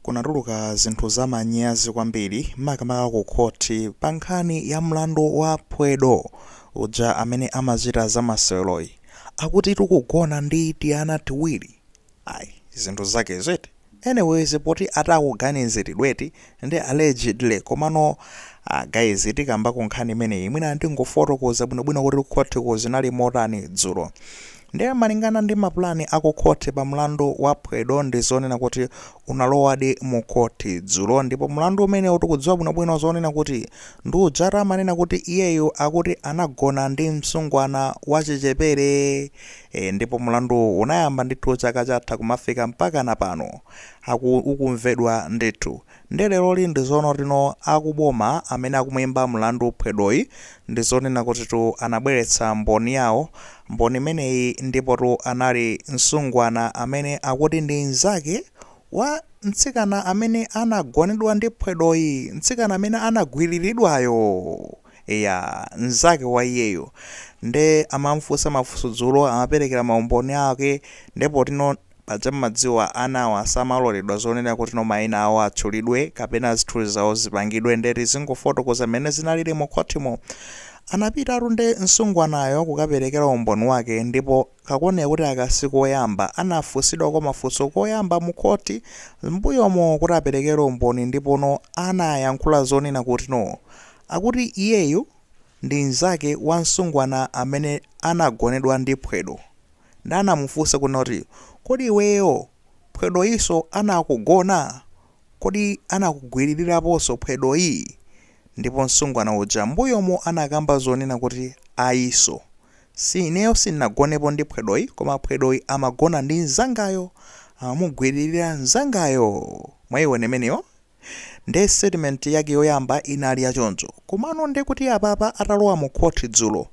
kunatuluka zinthu zamanyazi kwambiri makamaka ku khoti pa nkhani ya mlandu wa Phwedo uja amene amachita za maseweroyi akuti tikugona ndi tiana tiwiri ayi zinthu zake eti anyways poti ati akuganiziridwa eti nde allegedly komano ah guys tikambeko nkhani imeneyi mwina ndingofotokoza bwinobwino kuti kukhotiko zinali motani dzulo nde malingana ndi mapulani akukhoti pa mlandu wa phwedo ndi zonena kuti unalowadi mu khoti dzulo ndipo mlandu umenewu tikudziwa bwinobwino zonena kuti ndi ujatu amanena kuti iyeyu akuti anagona ndi msungwana wachichepere e, ndipo mlanduwu unayamba ndithu chaka chatha kumafika mpakana pano aku ukumvedwa ndithu nde leroli ndi zoona tino akuboma amene akumuimba mlandu phwedoyi ndizonena kutitu anabweretsa mboni yawo mboni imeneyi ndipotu anali msungwana amene akuti ndi nzake wa mtsikana amene anagonedwa ndi phwedoyi mtsikana amene anagwiriridwayo eya nzake wa iyeyo nde amamufunsa mafunso dzulo amaperekera maumboni ake ndipo tino Paja mumadziwa anawa samaloledwa zonena kutino maina awo atchulidwe kapena zithunzi zawo zipangidwe nde tizingofotokoza mmene zinalili mu khothimo. Anapitatu nde nsungwanayo kukaperekera umboni wake ndipo kakuoneka kuti aka si koyamba anafunsidwako mafunso koyamba mu khothi mmbuyomo kuti aperekere umboni ndipo anayankhula zonena kutino akuti iyeyu ndi nzake wa nsungwana amene anagonedwa ndi phwedo Nde anamufunsa kunena kuti, Kodi iweyo phwedoyinso anakugona? Kodi anakugwiririraponso phwedoyi? Ndipo msungwana uja m'mbuyomo anakamba zonena kuti, Ayinso. Si ineyo sindinagonepo ndi phwedoyi, koma phwedoyi amagona ndi mnzangayo, amamugwiririra mnzangayo. Mwayiona imeneyo? Nde statement yake yoyamba inali ya choncho. Komano nde kuti apapa atalowa mu court dzulo,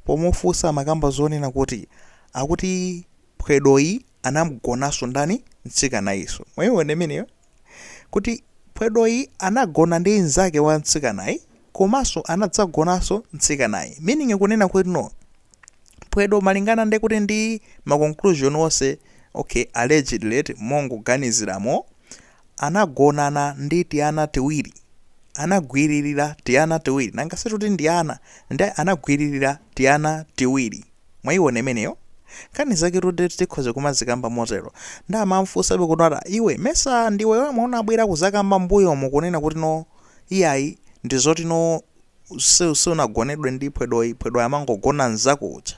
pomufunsa amakamba zonena kuti akuti phwedoyi anamgonanso ndani? Mtsikanayiso. Mwayiona imeneyo? Kuti phwedoyi anagona ndi nzake wa mtsikanayi komanso anadzagonanso mtsikanayi. Meaning kunena kutino Phwedo malingana ndi kuti ndi ma conclusion onse, okay, allegedly eti mongoganiziramo, anagonana ndi tiana tiwiri, anagwiririra tiana tiwiri, nanga situti ndi ana, nde anagwiririra tiana tiwiri, mwayiona imeneyo? Nkhani zaketu nde tikhoza kumazikamba motero. Nde amamfunsabe kuti ati iwe mesa ndiwe yemwe unabwera kuzakamba mbuyomu kunena kutino iyayi ndizotino Usi sunagonedwe ndi phwedoyi, phwedoyi amangogona nzako uja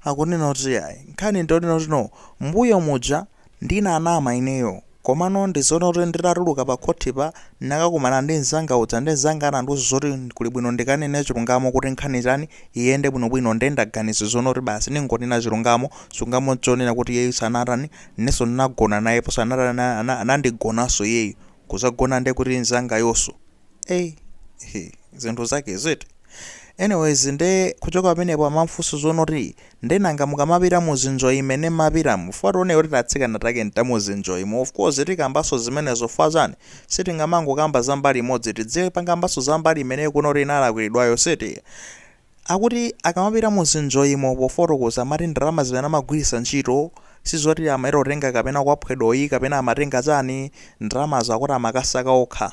akunena kuti yayi nkhani ndiyonena kuti no mmbuyo muja ndinanama ineyo komano ndizoona kuti nditatuluka pa khothipa ndinakakumana ndi nzanga uja nde nzanga anandiuza zoti kuli bwino ndikanene chilungamo kuti nkhani chani iyende bwinobwino nde ndaganiza zono kuti basi ndingonena chilungamo, chilungamo nchonena kuti iyeyu sanatani inenso ndinagona nayepo sanatani anandigonanso iyeyu kuzagona ndekuti nzangayoso. eyi hi, zinthu zake ziti anyways nde kuchoka pamenepo amamfunsa zonoti nde nanga mukamapita muzinjoyi imene mmapitamu fwa tione kuti titsikana take ntamuzinjoyimo of course tikambanso zimenezo fwa chani sitingamangokamba za mbali imodzi tidzipangambanso za mbali imene kunoti inalakwilidwayo eti akuti akamapita muzinjoyimo pofotokoza amati ndalama zimene amagwiritsa ntchito sizoti amaita kutenga kapena kwa phwedoyi kapena amatenga chani ndalamazo akuti amakasaka okha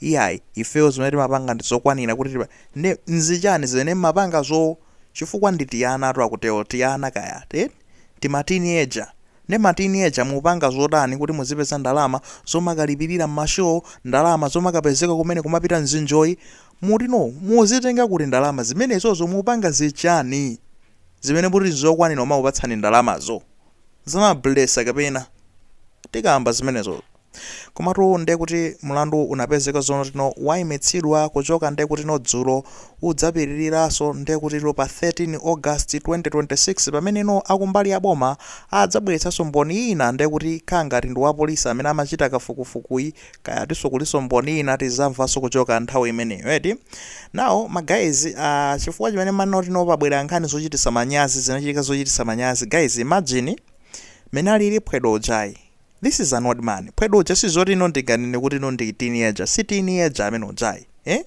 iyayi ifeyo zimene timapanga ndizokwanila kuti tipa nde nzichani zimene mmapangazo chifukwa ndi tianatu akutewo tiana kaya eti tima teenager nde ma teenager mupanga zotani kuti muzipeza ndalama zomakalipilila mma show ndalama zomakapezeka kumene kumapita muzinjoyi muti no mumazitenga kuti ndalama zimenezozo mupanga zichani zimene muti nzokwanila omakupatsani ndalamazo zama blesser kapena tikamba zimenezozo Komatu nde kuti mulandu unapezeka zonoti no waimitsidwa kuchoka nde kuti no dzulo udzapitililaso nde kuti no pa 13 August 2026 pamene no akumbali ya boma adzabweletsaso mboni ina nde kuti kaya ngati ndi wapolice amene amachita kafukufukuyi kaya tiso kuliso mboni ina tizamvaso kuchoka nthawi imeneyo eti now ma guys aah chifukwa chimene manoti no pabwela nkhani zochitisa manyazi zinachitika zochitisa manyazi guys imagine mmene alili phwedo ujayi This is an old man phwedo uja sizoti no ndinganene kuti no ndi teenager si teenager amene ujayi eh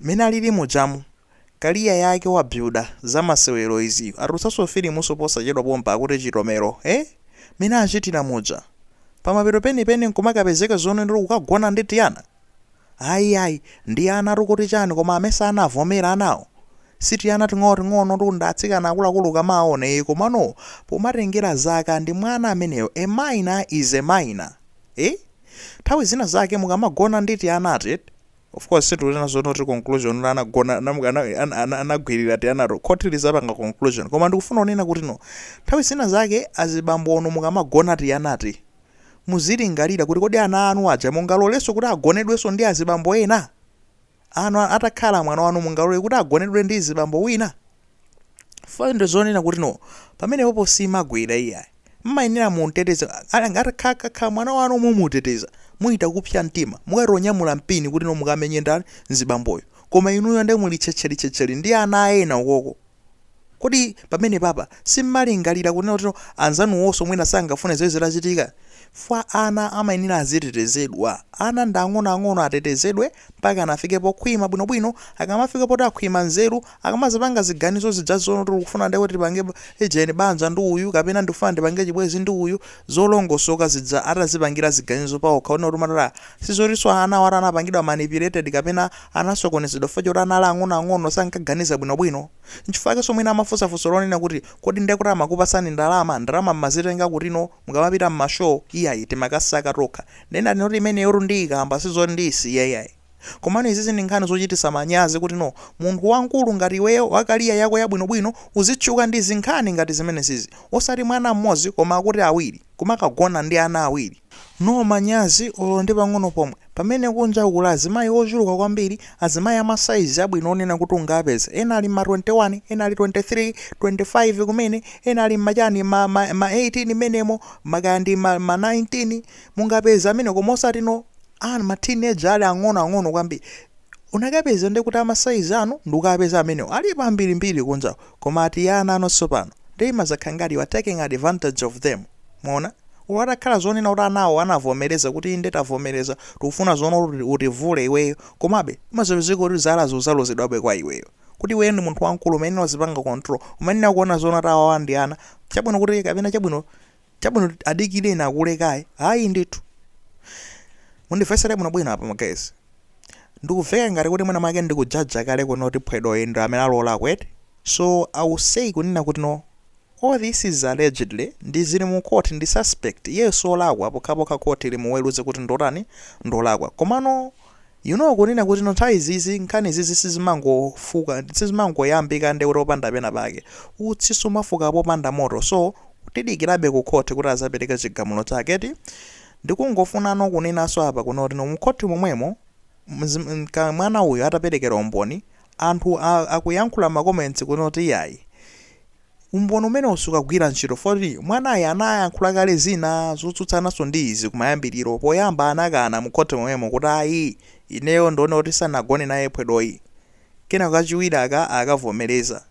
mmene alili mujamu career yake wa builder za masewero izi atulutsanso filimunso posachedwa pompa akuti chitomero eh mmene achitira muja pamapeto penipeni nkumakapezeka zonena kukagona ndi tiana Ayi ayi, ndi anatu kuti chani koma amesa anavomera anawo? Si tiana ting'onoting'onotu ndi atsikana akuluakulu ukamaaona ee komano pomatengera zaka ndi mwana ameneyo a minor is a minor ee nthawi zina zake mukamagona ndi tianati eti of course sitikunena zono kuti conclusion kuti anagona ana- ana- ana- ana- anagwirira tianato khoti lizapanga conclusion koma ndikufuna kunena kuti no nthawi zina zake azibambonu mukamagona tianati muzilingalira kuti kodi ana anu aja mungalolenso kuti agonedwenso ndi azibambo ena? Anu atakhala mwana wanu mungalole kuti agonedwe ndi zibambo wina? Phwedo zonena kuti no, pamenepopo simagwira iyayi. Mmayenera mumteteze, atakhala mwana wanu mumuteteza, muzichita kupsa mtima, mukatonyamula mpini kuti no mukamenye ndani, mzibamboyo. Koma inuyo nde muli tchetcheli tchetcheli ndi ana a ena ukoko. Kodi pamenepapa simmalingalira kunena kuti anzanuwonso mwina sangafune zimenezi zitachitika? Chifukwa ana amayenera azitetezedwa. Ana ndi ang'onoang'ono atetezedwe mpakana afike pokhwima bwinobwino. Akamafika poti akhwima nzeru, akamazipanga ziganizo zija zoti ndikufuna ndewe tipange ejeni banja ndi uyu kapena ndikufuna ndipange chibwenzi ndi uyu, zolongosoka zija atazipangira ziganizo paokha kunena kuti matala sizotinso anawo anapangidwa manipulated kapena Anasokonezedwa chifukwa choti anali ang'onoang'ono, sankaganiza bwinobwino. Nchifukwa chakenso mwina amafunsa funso lonena kuti, Kodi ndiye kuti amakupatsani ndalama? Ndalama m'mazitenga kutino mukamapita m'ma show? Iyayi, timakasaka tokha. Ndiye ndati note imeneyotu ndiyikamba, si zoti ndiyisiya iyayi. Komano izizi ndi nkhani zochititsa manyazi kuti no munthu wamkulu ngati iweyo, wa career yako yabwinobwino, uzitchuka ndi zinkhani ngati zimenesizi. Osati mwana m'modzi koma akuti awiri, kumakagona ndi ana awiri. No manyazi olo ndi pang'ono pomwe. Pamene kunja kuli azimayi ochuluka kwambiri, azimayi a ma size abwino onena kuti ungapeze. Ena ali mma 21, ena ali 23, 25 kumene, ena ali mma chani, ma, ma, ma 18 mmenemo, ma kaya ndi ma, ma 19. Mungapeze amene koma osati no, a ma teenager ali ang'ono ang'ono kwambiri. Unakapeza nde kuti a ma size anu ndikapeza amenewo. Alipo ambirimbiri kunja uko. Koma ati ana anonso pano, nde imazakhala ngati you are taking advantage of them, mwaona? Olo atakhala zonena kuti anawo anavomeleza kuti inde tavomeleza, tikufuna zoona utivule iweyo, komabe imazapezeka kuti zala zizalozedwabe kwa iweyo. Kuti iweyo ndi munthu wamkulu umayenera uzipanga control, umayenera kuona zonena kuti awawa ndi ana, chabwino kuti kapena chabwino Chabwino adikirena akule kaye ayi ndithu mundivesele bwino bwino apa ma guys ndikuveka ngati kuti mwina mwake ndikujaja kale kuno kuti Phwedoyu ndi amene alolako eti so i will say kunena kuti no all this is allegedly ndi zili mu court ndi suspect iyeyo solakwa pokhapokha court limuweruze kuti ndotani ndolakwa komano You know kunena kuti no nthawi izizi nkhani izizi sizimangofuka sizimangoyambika nde kuti panda pena pake utsi sumafuka popanda moto so tidikilabe ku court kuti azapeleke chigamulo chake eti ndikungofunano kunenaso apa kunena kuti no mu court momwemo mwana uyu atapelekera umboni anthu akuyankhula ma comments kunena kuti iyayi Umboni umenewo sukugwira ntchito foti mwanayi anayankhula kale zina zotsutsananso ndi izi kumayambiliro, poyamba anakana mu court momwemo kuti ayi ineyo ndinaona kuti sanagone naye phwedoyi, kenako kachiwiri akavomereza.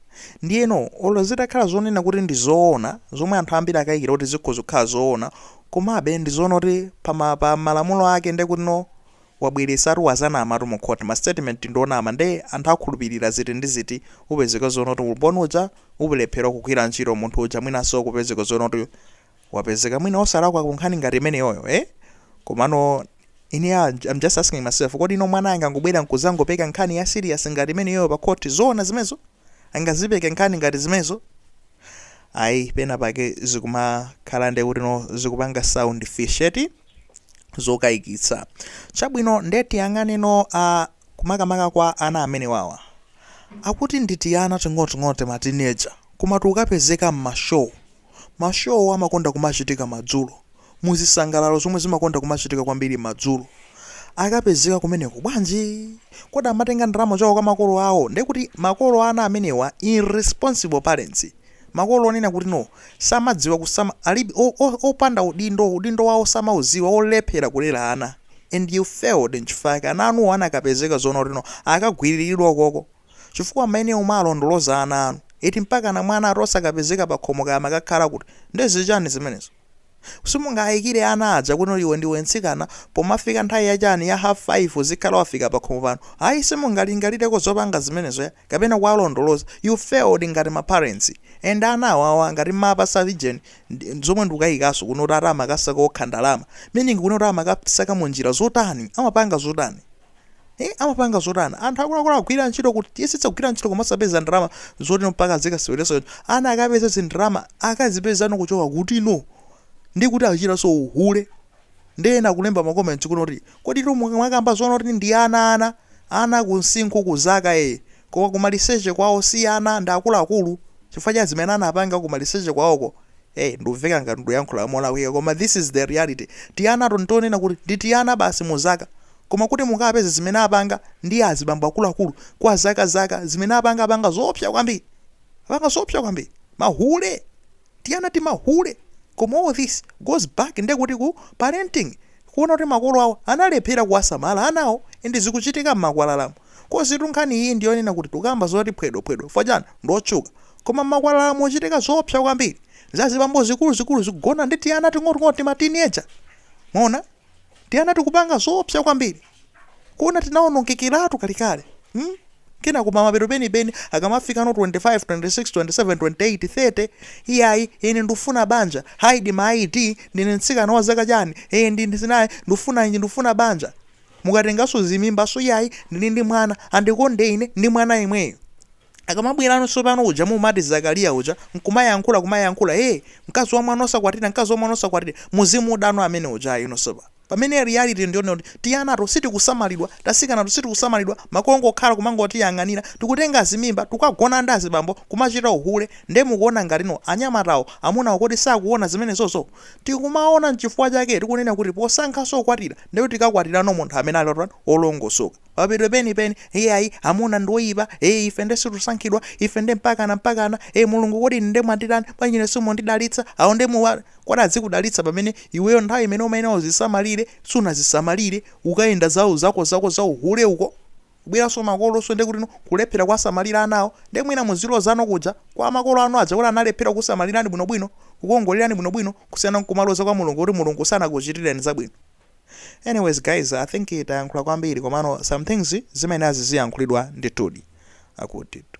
Ndiyeno olo zitakhala zonena kuti ndi zoona, zomwe anthu ambiri akayikira kuti zikhoza kukhala zoona, komabe ndizoona kuti pa malamulo ake nde kuti no wabweresatu wadzanamatu mu court ma statement ndionama nde anthu akhulupilira ziti ndi ziti upezeka zoona kuti umboni uja ulephera kugwira ntchito munthu uja mwinanso kupezeka zoona kuti wapezeka mwina osalakwa ku nkhani ngati imeneyoyo eh komano ine ah, I'm just asking myself kodi no mwana angangobwera nkudzangopeka nkhani ya serious ngati imeneyoyo pa court zoona zimenezo angazipeke nkhani ngati zimenezo? ayi pena pake zikumakhala nde kuti no zikupanga sound fishy eti zokayikitsa chabwino nde tiyang'ane no a makamaka kwa ana amenewawa akuti ndi tiana ting'oting'oto ma teenager koma tukapezeka m'mashow Ma show amakonda kumachitika madzulo, mu zisangalalo zomwe zimakonda kumachitika kwambiri madzulo. Akapezeka kumeneko bwanji? Kodi amatenga ndalama zawo kwa makolo awo? Nde kuti makolo a ana amenewa, irresponsible parents, makolo onena kuti no, samadziwa kusama, alibe, o, o, opanda udindo, udindo wawo samaudziwa, olephera kulera ana and you failed nchifukwa chake ana anu anakapezeka zoona kuti no, akagwiriridwa ukoko. chifukwa maeneo mumawalondoloza ana anu eti mpakana mwana ati osakapezeka pakhomo kaya amakakhala kuti nde zichani zimenezo simungaikire ana aja kuno iwe ndiwe mtsikana pomafika nthawi ya chani ya half 5 uzikhala wafika pakhomo pano ayi simungalingalireko zopanga zimenezo ya kapena kuwalondoloza you failed ngati ma parents and ana awawa ngati mmawapatsa vision ndi- zomwe ndikukaikanso kuno kuti ati amakasaka okha ndalama meaning kuno kuti amakasaka munjira zotani amapanga zotani Eh, amapanga zotani anthu akuluakulu agwira ntchito kuti tiyesetsa kugwira ntchito koma osapeza ndalama zoti no mpaka azikasewereshow ana akapeza zindalama akazipeza no kuchoka kuti no nde kuti achitanso uhule nde ena kulemba makomenti kuno kuti kodi tu mwakamba zoona kuti ndi ana ana ana kumsinkhu ku zaka e Koma kumaliseche kwawo si ana ndi akuluakulu chifukwa cha zimene anapanga kumaliseche kwawoko hey ndumveka ngati nduyankhula molakwika koma this is the reality tianato ndi tonena kuti ndi tiana basi mu zaka koma kuti mukapeze zimene apanga ndi azibambo akuluakulu kwa zaka zaka zimene apanga apanga zoopsa kwambiri apanga zoopsa kwambiri mahule tiana timahule koma all this goes back nde kuti ku parenting kuona kuti makolo awo analephera kuwasamala anawo and zikuchitika mmakwalalamu coz tu nkhani iyi ndiyonena kut tukamba zoti phwedo phwedo chifukwa chani ndiotchuka koma mmakwalalamu muchitika zoopsa kwambiri zazibambo zikuluzikulu zikugona ndi tiana ting'oting'oto tima teenager mwaona tiana tikupanga zoopsa kwambiri kuona tinaonongekeratu kalekale hmm? kenako pamapeto penipeni akamafika no 25 26 27 28 30 iyayi ine ndufuna banja haidi ma ID ndine mtsikana wa zaka chani ee ndine zinayi ndufuna inji ndufuna banja mukatenganso zimimbanso iyayi ndili ndi mwana andikonde ine ndi mwana yemweyo Akamabwerano tsopano uja mumati Zakaliya uja nkumayankhula kumayankhula ee mkazi wa mwana osakwatira mkazi wa mwana osakwatira muzimuuzano amene uja ino sopa pamene reality ndiyonena kuti tianato sitikusamalidwa tasikanato sitikusamalidwa makolo ongokhala kumangotiyang'anira tikutenga zimimba tikukagona ndi azibambo kumachita uhule nde mukuona ngatino anyamatawo amunawo kodi sakuona zimenezozo akumaona nchifukwa chake tikunena kuti posankhanso kukwatira ndekuti tikakwatirano munthu amene ali otani olongosoka Pamapeto penipeni, iyayi, amuna ndi oyipa, ee ife nde sitikusankhidwa, ife nde mpakana mpakana, ee Mulungu kodi ine nde mwanditani, bwanji ine simundidalitsa, awo nde muwa. Kodi adzikudalitsa pamene iweyo nthawi imene umayenera uzisamalire sunazisamalire, ukayenda za zakozako za uhule uko, kubweranso makolonso nde kutino kulephera kuwasamalira anawo, nde mwina muzilozano kuja kwa makolo anu aja kuti analephera kukusamalirani bwinobwino, kukuwongolerani bwinobwino kusiyana n'kumaloza kwa Mulungu kuti Mulungu sanakuchitireni zabwino. Anyways guys, I think tayankhula kwambiri komano some things zimayenera ziziyankhulidwa ndithudi. Akutitu.